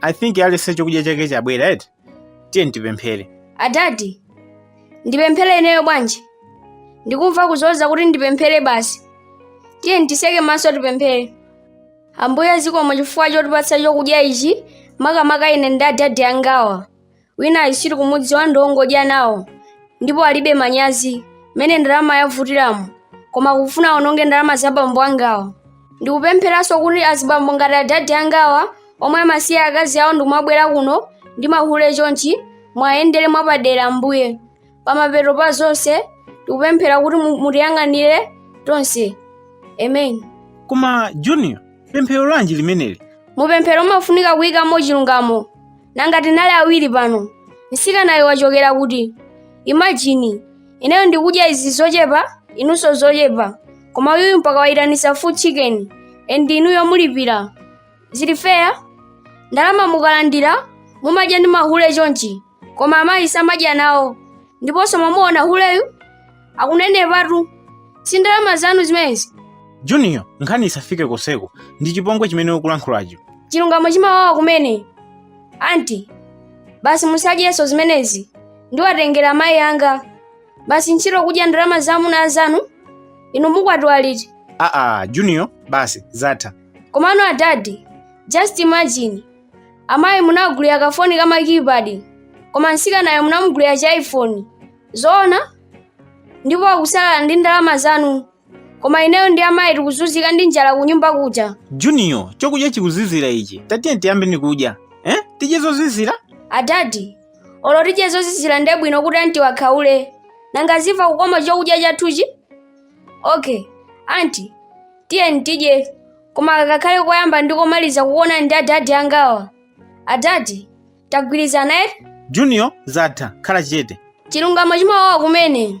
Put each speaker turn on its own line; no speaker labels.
i think aliyense chakudya chake chabwera eti tiye tipemphere
adadi ndipemphere ineyo bwanji ndikumva kuzoza kuti ndipemphere basi tiye titseke maso tipemphere ambuye zikomo chifukwa chotipatsa chokudya ichi makamaka ine ndi adadi angawa wina wachitsiru kumudziwa ndi wongodya nawo ndipo alibe manyazi mmene ndalama yavutiramo koma kufuna awononge ndalama za bambo angawa ndikupempheranso kuti azibambo ngati adadi angawa omwe amasiya akazi awo ndikumabwera kuno ndi mahule chonchi muwayendere mwapadera ambuye pamapeto pa zonse ndikupemphera kuti mutiyang'anire tonse amen
koma junior pemphero lanji limeneli mupemphero umafunika
kuyikamo chilungamo nanga tinali awiri pano mtsikanayu wachokera kuti imagine ineyo ndikudya izi zochepa inunso zochepa koma uyuyu mpaka wayitanisa full chicken and inuyo mulipira zili fair ndalama mukalandira mumadya ndi mahule chonchi koma amayi samadya nawo ndiponso mumuwuze huleyu akunenepatu si ndalama zanu zimenezi junior
nkhani isafike konseko ndi chipongwe chimene ukulankhulacho chilungamo chimawawa
kumene anti basi musadyenso zimenezi ndiwatengera amayi anga basi ntchito kudya ndalama za amuna anzanu inu mukwatiwa liti aa junior
basi zatha komano adadi
just imagine amayi munawagulira kafoni ka ma keypad koma mtsikanayo munamugulira chi iphone zoona ndipo akusalala ndi ndalama zanu koma ineyo ndi amayi tikuzunzika ndi njala kunyumba kuja junior chokudya
chikuzizira ichi tatiye tiyambeni kudya eh? tidye zozizira
adadi olo tidye zozizira nde bwino kuti anti akhaule nanga azimva kukoma chokudya chathuchi okay anti tiyeni tidye koma kakhale koyamba ndi komaliza kukuonani ndi adadi angawa adadi
tagwirizana
eti
junior zatha
khala
chete chilungamo
chimawawa
kumene